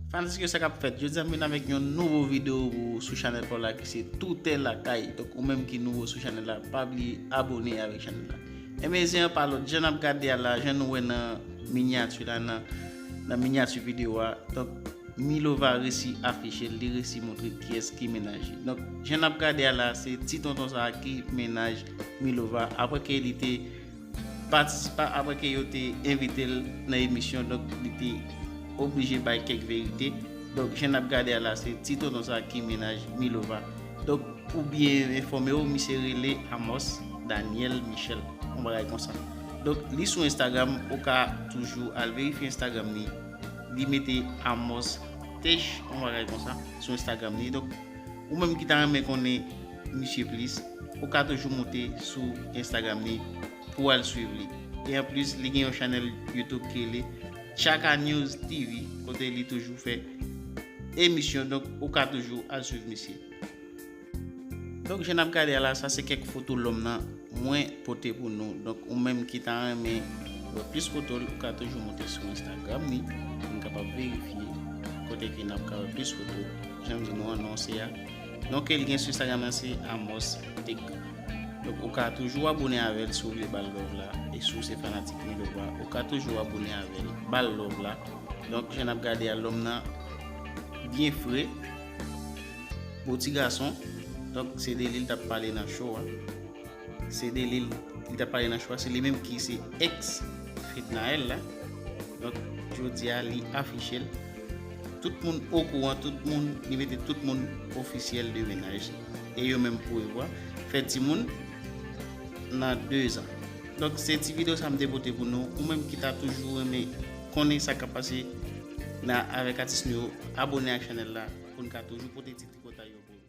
Fanatik yo sa kap fèt, jodi a m vin avèk yon nouvo video pou ou sou chanèl pa w la ki se Toutè Lakay, donk ou menm ki nouvo sou chanèl la pa bliye abone avèk chanèl la. Enben zen an pa lòt, jan nap gade a la, jan nou wè nan minyati la nan nan minyati video a, donk Milova resi afiche l, li resi montre kiyès ki mennaj li. Donk jan nap gade a la se ti tonton sa ki mennaj Milova aprè ke li te patisipan apre ke yo te envite l nan emisyon donk li te oblije bay kèk verite donk jan nap gade a la se ti tonton sa ki mennaj Milova donk pou byen enfòme w misye rele Amos Daniel Michel yon bagay konsa donk li sou Instagram ou ka toujou al verifye Instagram li li mete Amos Tesh yon bagay konsa sou Instagram li donk. Ou menm ki ta renmen konnen misye plis, ou ka toujou moute sou Instagram li pou w al swiv li. E anplis, li gen yon chanèl YouTube ki rele Tchaka News TV kote li toujou fè emisyon, donk ou ka toujou al swiv misye. Donk jan n ap gade a la, sa se kèk foto lòm nan. Mwen pote pou nou. Donk ou menm ki ta renmen wè plis foto l ou ka toujou moute sou Instagram li pou n kapab verifye kote ke nap ka wè plis foto. Jan m di nou an non se a. Non ke l gen sou Instagram lan se Amos Tech. Donk ou ka toujou abone avè l si w vle ba l love la. E si w se fanatik Milo Bwa ou ka toujou abone avè l ba l love la. Donk jan nap gade a lòm nan byen fre. Bon ti gason, donk se de li l tap pale nan show a. Se de li li tap pale nan show a, se li menm ki se ex Fednaelle la. Donk jodi a li afiche l. Tout moun okouran, tout moun, li mete tout moun ofisyèl de menaj. E yo menm pou yo a, fè ti moun nan 2 zan. Donk se ti video sa m te pote pou nou, ou menm ki ta toujou renmen Konnen sa kap pase nan avek atis nou yo abone ak chanel la poun ka toujou pote ti tripotay yo pou nou.